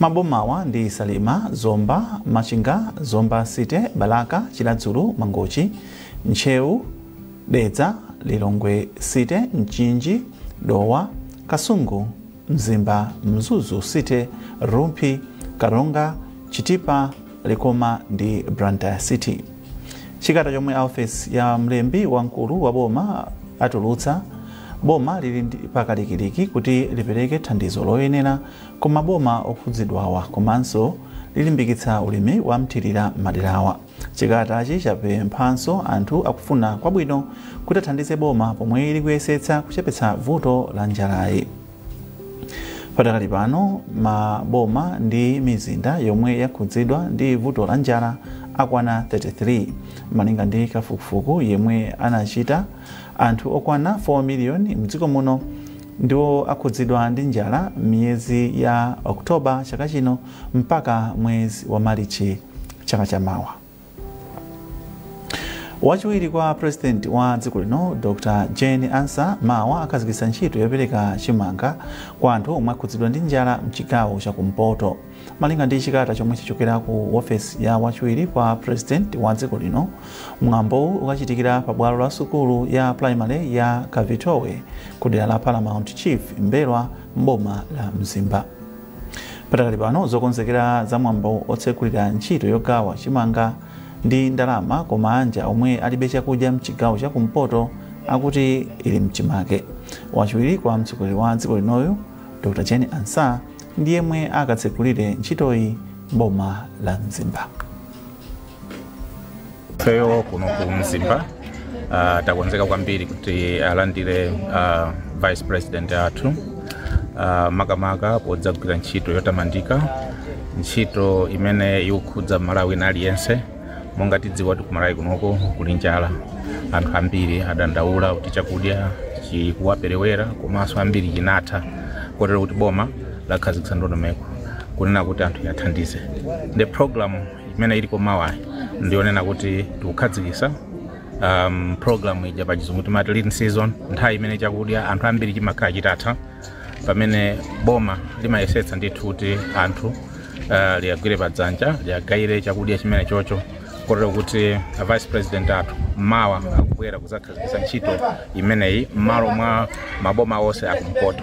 Mabomawa ndi Salima, Zomba, Machinga, Zomba City, Balaka, Chiradzulu, Mangochi, Ntcheu, Dedza, Lilongwe City, Mchinji, Dowa, Kasungu, Mzimba, Mzuzu City, Rumphi, Karonga, Chitipa, Likoma ndi Blantyre City. Chikata chomwe ofesi ya mlembi wamkulu wa boma atulutsa, boma lili pakalikiliki kuti lipereke thandizo loyenera ku maboma okhudzidwawa komanso lilimbikitsa ulimi wa mthirira m'maderawa. Chikatachi chapemphanso anthu akufuna kwabwino kuti athandize boma pomwe likuyesetsa kuchepetsa vuto la njalayi. Patakali pano maboma ndi mizinda yomwe yakhudzidwa ndi vuto la njala akwana 33 malinga ndi kafukufuku yemwe anachita anthu okwana 4 miliyoni mdziko muno ndiwo akhudzidwa ndi njala m'miyezi ya oktoba chaka chino mpaka mwezi wa malichi chaka chamawa wachiwiri kwa president wa dziko lino dr jane ansah mawa akhazikitsa ntchito yopereka chimanga kwa anthu omwe akhudzidwa ndi njala mchigawo chakumpoto malinga ndi chikata chomwe chichokera ku ofesi ya wachiwiri kwa president wa dziko lino mwambowu ukachitikira pa bwalo la sukulu ya primary ya kavitowe ku dera la paramount chief mbelwa mboma la mzimba Patakali pano zokonzekera za mwambo otsekulira ntchito yogawa chimanga ndi ndalama kwa maanja omwe alibe chakudya mchigawo cha kumpoto akuti ili mchimake. Wachiwiri kwa mtsogoleri wa dziko linoyu Dr. Jane Ansah ndi yemwe akatsekulire ntchitoyi m'boma la Mzimba. ifeyo kuno ku mzimba uh, takonzeka kwambiri kuti alandire uh, vice president athu uh, makamaka podzagwira ntchito yotamandika ntchito imene ikukhudza mmalawi wina aliyense monga tidziwa kuti kumalawi kunoko kuli njala anthu ambiri adandaula kuti chakudya chikuwaperewera komanso ambiri chinatha kotero kuti boma lakhazikitsa ndondomeko kunena kuti anthu liyathandize ndiye program imene iliko mawayi ndiyonena kuti tikukhazikitsa um, program ija pa chizungu timati lean season nthawi imene chakudya anthu ambiri chimakhala chitatha pamene boma limayesetsa ndithu kuti anthu uh, liyagwire padzanja liyagayire chakudya chimenechocho kotero kuti a vice president athu mawa akubwera kuzakhazikitsa ntchito imeneyi m'malo mwa maboma onse akumpoto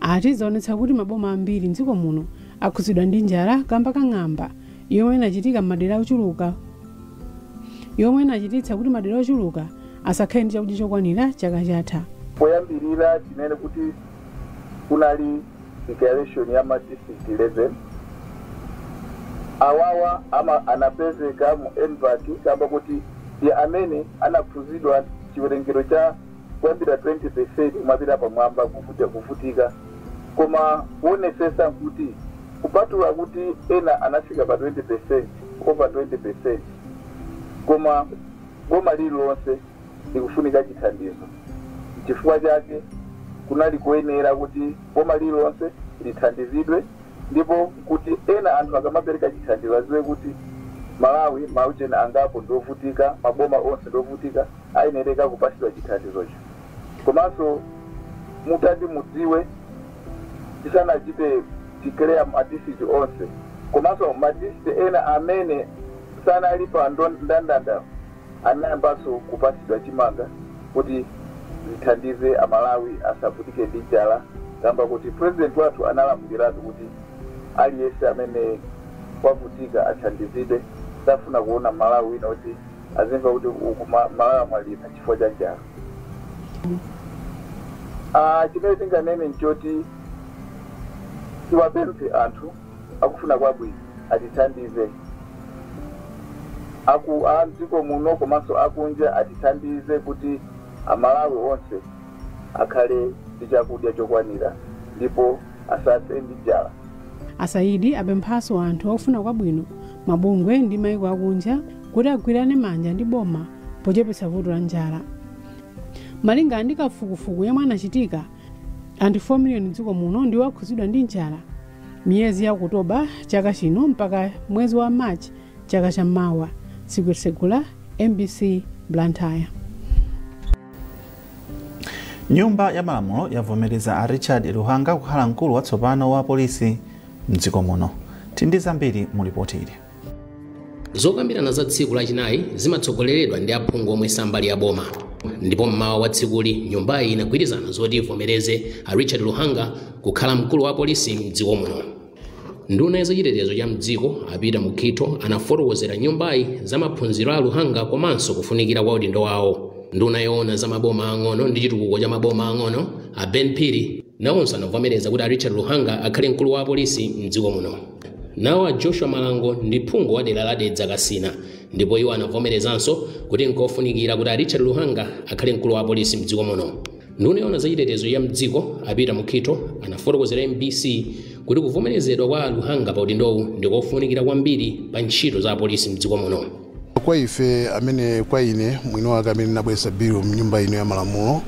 ati zaonetsa kuti maboma ambiri mdziko muno akhudzidwa ndi njala kamba ka ng'amba yomwe inachitika m'madera ochuluka yomwe inachititsa kuti madera ochuluka asakhale ndi chakudya chokwanira chaka chatha poyambirira tinene kuti kunali declaration ya ma district 11 awawa anapezeka mu MVAC kamba kuti ndi amene anakhudzidwa chiwerengero cha kuyambira 20% kumapita pamwamba kuvutika koma kuonesesa nkuti kupatula kuti ena anafika pa 20% over 20% koma boma lililonse likufunika chithandizo nchifukwa chake kunali koyenera kuti boma lililonse lithandizidwe ndipo nkuti ena anthu akamapereka chithandizo aziwe kuti Malawi ma ujeni angapo ndiovutika maboma onse ndiovutika ayenereka kupasidwa chithandizocho komanso mutati mudziwe tisanachite declare ma district onse komanso ma district ena amene sanali pa ndandanda anayambanso kupasidwa chimanga kuti zithandize amalawi asavutike ndi njala kamba kuti president wathu analamuliratu kuti aliyense amene wavutika athandizidwe safuna kuona malawi kuti azimva kuti uku m'malawi wamwalira chifukwa cha njala Ah, chimene tinganene nchoti tiwapemphe anthu akufuna kwabwino atithandize aku a mdziko muno komanso akunja atithandize kuti amalawi onse akhale ndi chakudya chokwanira ndipo asafe ndi njala asaidi apemphanso anthu akufuna kwabwino mabungwe ndi maiko akunja kuti agwirane manja ndi boma pochepetsa vuto la njala malinga ndi kafukufuku yemwe anachitika anthu 4 miliyoni mdziko muno ndiwo akhudzidwa ndi njala miyezi ya okutoba chaka chino mpaka mwezi wa march chaka cha mawa sugzo segula mbc blantyre nyumba ya malamulo yavomereza a richard luhanga kukhala mkulu watsopano wa polisi mdziko muno tili ndi zambiri mu lipoti ili zokambirana za tsiku lachinayi zimatsogoleredwa ndi aphungu omwe sambali ya boma ndipo mmawa wa tsikuli nyumbayi inagwirizana zoti ivomereze a richard luhanga kukhala mkulu wa apolisi mdziko muno nduna ya zachitetezo cha mdziko a peter mukhito anafotokozera nyumbayi za maphunziro a luhanga komanso kufunikira kwa udindo wawo nduna yoona za maboma ang'ono ndi chitukuko cha maboma ang'ono a ben phiri nawonso anavomereza kuti a richard luhanga akhale mkulu wa apolisi mdziko muno Nawo a Joshua Malango ndi phungu wa dera la Dedza Kasina ndipo iwo anavomerezanso kuti nkofunikira kuti a Richard Luhanga akhale mkulu wa apolisi mdziko muno. Nduna yoona za chitetezo cha mdziko a Peter Mukhitho anafotokozera MBC kuti kuvomerezedwa kwa a Luhanga pa udindowu ndi kofunikira kwambiri pa ntchito za apolisi mdziko muno. Kwa ife amene kwa ine mwini wake amene nabweretsa bilu mnyumba ino ya malamulo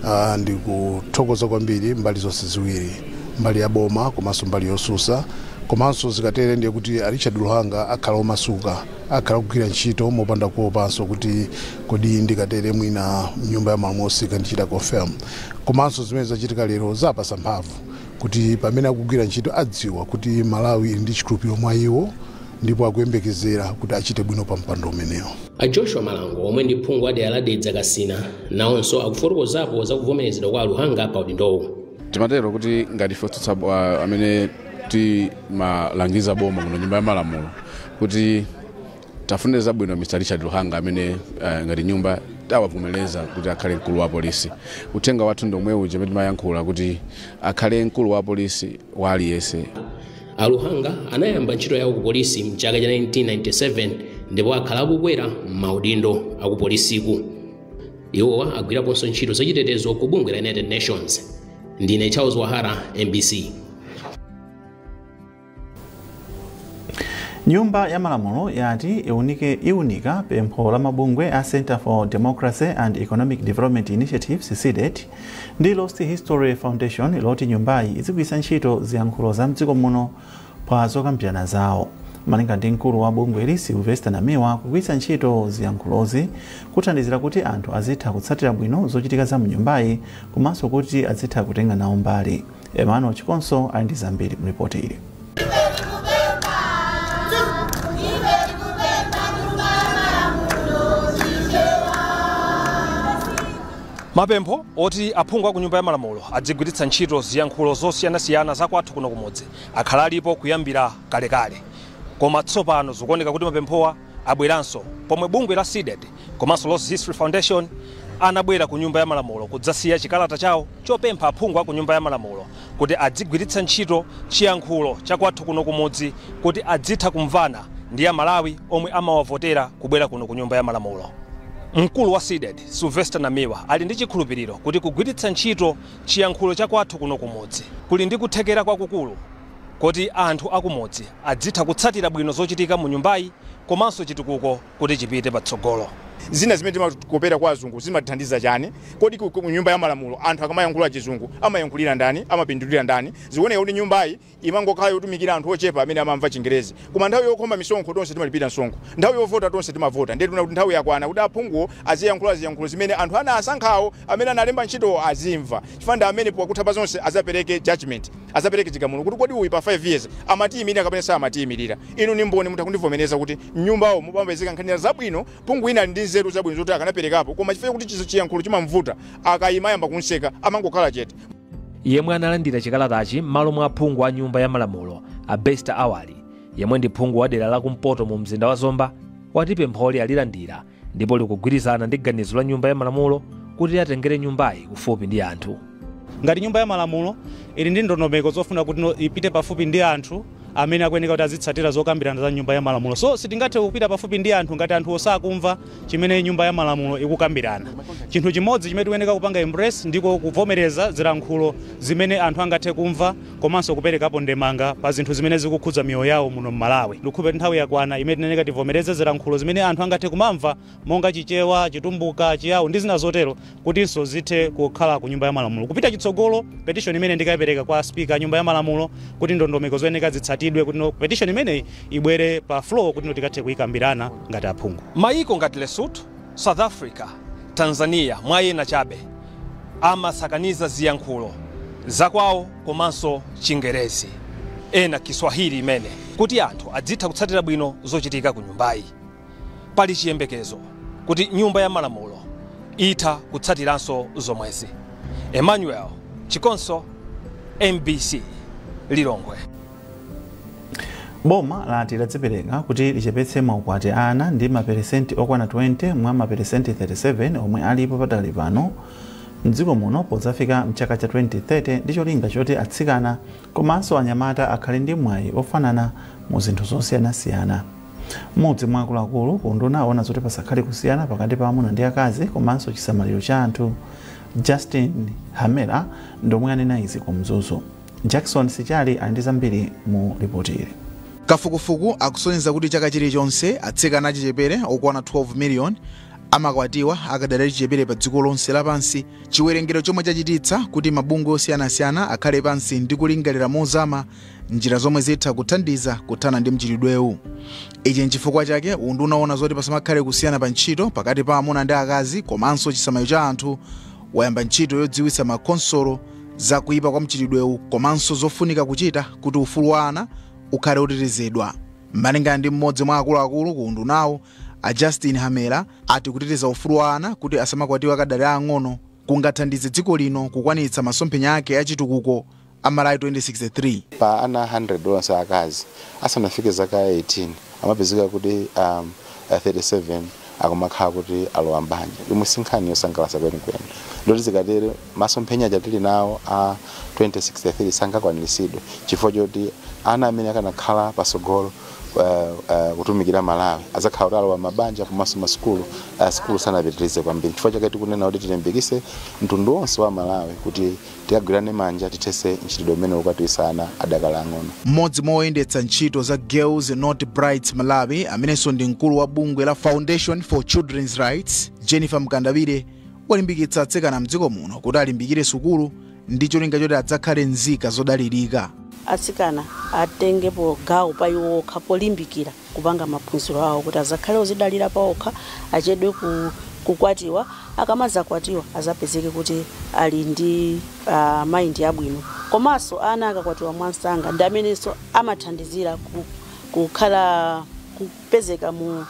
uh, ndikuthokoza kwambiri mbali zonse ziwiri mbali ya boma komanso mbali yosusa komanso zikatere ndiye kuti a richard luhanga akhala omasuka akhala kugwira ntchito mopanda kuopanso kuti kodi ndikatere mwina mnyumba ya malamulo sakandichita confirm komanso zimene zachitika lero zapasa mphamvu kuti pamene akugwira ntchito adziwa kuti malawi ili ndi chikhulupiriro mwa iwo ndipo akuyembekezera kuti achite bwino pa mpando umenewo. A Joshua Malango omwe ndi phungu wa dera la Dedza Kasina nawonso akufotokozapo za kuvomerezedwa kwa a Luhanga pa udindowu. timati tinene kuti ngati ife otsutsa bo- ah, amene timalangiza boma muno nyumba ya malamulo kuti tiwafunire zabwino mr richard luhanga amene ah, ngati nyumba tawavomereza kuti akhale mkulu wa polisi uthenga wathu ndi omwe uja umene timayankhula kuti akhale mkulu wa polisi wa aliyense A Luhanga anayamba ntchito yawo ku polisi mchaka cha 1997 ndipo akhala akukwera m'maudindo akupolisiku. Iwowa agwiraponso ntchito zachitetezo ku bungwe la United Nations. Ndine Charles Wahara, MBC. nyumba ya malamulo yati iunike iunika pempho la mabungwe a center for democracy and economic development initiatives cdedi ndi Lost History Foundation loti nyumbayi izigwiritsa ntchito ziyankhulo za mdziko muno pa zokambirana zawo malinga ndi mkulu wa bungweli Sylvester Namiwa kugwiritsa ntchito ziyankhulozi kuthandizira kuti anthu azitha kutsatira bwino zochitika za mnyumbayi komanso kuti azitha kutenga nawo mbali Emmanuel Chikonso ali ndi zambiri mu lipoti ili. mapempho oti aphungu a ku nyumba ya malamulo adzigwiritsa ntchito ziyankhulo zosiyanasiyana za kwathu kuno kumudzi akhala alipo kuyambira kalekale koma tsopano zikuoneka kuti mapemphowa abweranso pomwe bungwe la Cdedi komanso Lost History Foundation anabwera ku Nyumba ya Malamulo kudzasiya chikalata chawo chopempha aphungu a ku Nyumba ya Malamulo kuti adzigwiritsa ntchito chiyankhulo cha kwathu kuno kumudzi kuti adzitha kumvana ndi Amalawi omwe amawavotera kubwera kuno ku Nyumba ya Malamulo. Mkulu wa Cdedi, Sylvester Namiwa, ali ndi chikhulupiriro kuti kugwiritsa ntchito chiyankhulo cha kwathu kuno kumudzi kuli ndi kuthekera kwakukulu. kuti anthu akumudzi adzitha kutsatira bwino zochitika mu nyumbayi komanso chitukuko kuti chipite patsogolo. Zina zimene timakopera kwa azungu zimathandiza chani? Kodi ku nyumba ya malamulo anthu akamayankhula chizungu amayankhulira ndani? Amapindulira ndani? Zikuoneka kuti nyumbayi imangokhala yotumikira anthu ochepa amene amamva chingerezi. Koma nthawi yokhoma misonkho tonse timalipira msonkho, nthawi yovota tonse timavota ndiye tikuona kuti nthawi yakwana kuti aphungu aziyankhula ziyankhulo zimene anthu anawasankhawo, amene analemba ntchitowo azimva chifukwa ndi amene pakutha pa zonse adzapereke judgement, adzapereke chigamulo kuti kodi uyu pa 5 years amatiyimirira kapena samatiyimirira. Inu ndi mboni mutha kundivomereza kuti m'nyumbawo mumapezeka nkhani zabwino, phungu wina ali ndi nzeru zabwino zoti akanaperekapo koma chifukwa chakuti chiyankhulo chimam'vuta, akaima ayamba kum'seka, amangokhala chete. yemwe analandira chikalatachi m'malo mwa aphungu a nyumba ya malamulo a besta awali yemwe ndi phungu wa dera la kumpoto mu mzinda wa zomba wati pempholi alilandira ndipo likugwirizana ndi ganizo la nyumba ya malamulo kuti atengere nyumbayi kufupi ndi anthu ngati nyumba ya malamulo ili ndi ndondomeko zofuna kutino ipite pafupi ndi anthu amene akuyeneka kuti azitsatira zokambirana za nyumba ya malamulo. So sitingathe kupita pafupi ndi anthu ngati anthuwo sakumva chimene nyumba ya malamulo ikukambirana. Chinthu chimodzi chimene tikuyeneka kupanga embrace ndiko kuvomereza zilankhulo zimene anthu angathe kumva komanso kuperekapo ndemanga pa zinthu zimene zikukhudza miyoyo yawo muno m'Malawi. Ndikukhulupirira kuti nthawi yakwana imene tikuyeneka tivomereze zilankhulo zimene anthu angathe kumamva. monga Chichewa, Chitumbuka, Chiyao ndi zina zotero kutinso zithe kukhala ku nyumba ya malamulo. Kupita chitsogolo, petition imeneyi ndikaipereka kwa speaker a nyumba ya malamulo kuti ndondomeko zoyeneka zitsatidwe kutino petition imeneyi ibwere pa floor kutino tikathe kuikambirana ngati aphungu. Mayiko ngati Lesotho, South Africa, Tanzania mwa ena chabe amasakaniza ziyankhulo zakwawo komanso Chingerezi, ena Kiswahili imene kuti anthu adzitha kutsatira bwino zochitika ku nyumbayi. Pali chiyembekezo kuti nyumba ya malamulo itha kutsatiranso zomwezi. Emmanuel Chikonso, mbc, Lilongwe. Boma lati ladzipereka kuti lichepetse maukwati a ana ndi maperesenti okwana 20 mwa maperesenti 37 omwe alipo padakali pano mdziko muno podzafika mchaka cha 2030 ndi cholinga choti atsikana komanso anyamata akhale ndi mwayi ofanana mu zinthu zosiyanasiyana. Mmodzi mwa akuluakulu ku unduna owona zoti pasakhale kusiyana pakati pa amuna ndi akazi komanso chisamaliro cha anthu, Justin Hamera ndi omwe anena izi ku Mzuzu. Jackson Sichali ali ndi zambiri mu lipoti ili. Kafukufuku akusonyeza kuti chaka chilichonse atsikana achichepere okwana 12 miliyoni amakwatiwa akadali achichepere pa dziko lonse lapansi, chiwerengero chomwe chachititsa kuti mabungwe osiyanasiyana akhale pansi ndi kulingalira mozama njira zomwe zitha kuthandiza kuthana ndi mchitidwewu ichi nchifukwa chake unduna woona zoti pasamakhale kusiyana pa ntchito pakati pa amuna ndi akazi komanso chisamaliro cha anthu wayamba ntchito yodziwitsa makhonsolo za kuyipa kwa mchitidwewu komanso zofunika kuchita kuti ufulu wa ana ukhale otetezedwa malingana ndi mmodzi mwa akuluakulu ku undunawu a justin hamera ati kuteteza ufulu wa ana kuti asamakwatiwe akadali aang'ono kungathandize dziko lino kukwanitsa masomphenya ake achitukuko a Malawi 2063. Pa ana 100 onse aakazi, asanafike zaka 18 amapezeka kuti 37 akumakhala kuti alowa m'banja, yomwe si nkhani yosangalatsa kwenikweni. Ndiye kuti zikatere, masomphenya aja tili nawo a 2063 sangakwaniritsidwe chifukwa choti ana amene akanakhala patsogolo kutumikira Malawi adzakhala kuti alowa m'mabanja komanso masukulu, sukulu sanapitirize kwambiri. N'chifukwa chake tikunena kuti tilimbikitse mtundu wonse wa Amalawi kuti. Tigwirane manja tithetse mchitidwe umenewu okwatiwitsa ana adakali ang'ono. M'modzi mwa oyendetsa ntchito za Girls Not Brides Malawi amenenso ndi mkulu wa bungwe la Foundation for Children's Rights, Jennifer Mkandawire, walimbikitsa atsikana mdziko muno kuti alimbikire sukulu ndi cholinga choti adzakhale nzika zodalirika. Atsikana atengepo gawo pa iwo okha polimbikira. kupanga maphunziro awo kuti azakhale ozidalira paokha, achedwe ku kukwatiwa, akamadzakwatiwa azapezeke kuti ali ndi uh, mind yabwino. Komanso ana akakwatiwa mwansanga ndi amenenso amathandizira ku, kukhala kupezeka mu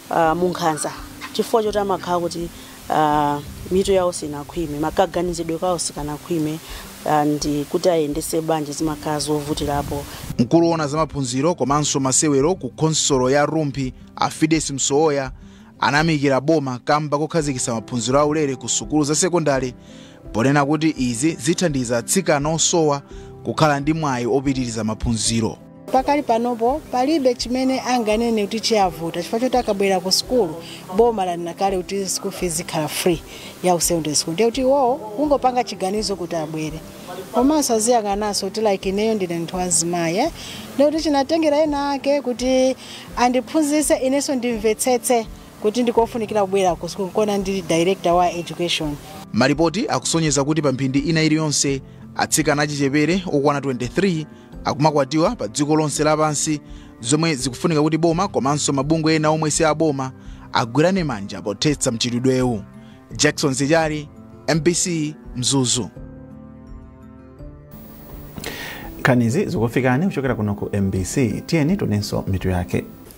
uh, munkhanza chifukwa choti amakhala kuti uh, mitu yawo sinakhwime makaganizidwe kawo sikanakhwime uh, ndi kuti ayendese banja zimakhala zovutirapo Mkulu woona za maphunziro komanso masewero ku khonsolo ya Rumphi a Fides Msowoya ayamikira boma kamba kokhazikitsa maphunziro aulere ku sukulu za sekondale ponena kuti izi zithandiza atsikana osowa kukhala ndi mwayi opitiriza maphunziro. pakali panopo palibe chimene anganene kuti chiyavuta chifukwa choti akabwera ku sukulu boma lanena kale kuti school fees ikhala free ya ku secondary school ndiye kuti iwowo kungopanga chiganizo kuti abwere komanso aziyang'ananso kuti like ineyo ndine munthu wachizimayi eh? ndiye kuti chinatengera ena ake kuti andiphunzitse inenso ndimvetsetse kuti ndikofunikira kubwera ku sukulu nkona ndili director wa education malipoti akusonyeza kuti pa mphindi ina iliyonse atsikana achichepere okwana 23 akumakwatiwa pa dziko lonse lapansi zomwe zikufunika kuti boma komanso mabungwe ena omwe si aboma agwirane manja pothetsa mchitidwewu jackson sichali mbc mzuzu nkhanizi zikufikani kuchokera kuno ku mbc tiyeni tinenenso mitu yake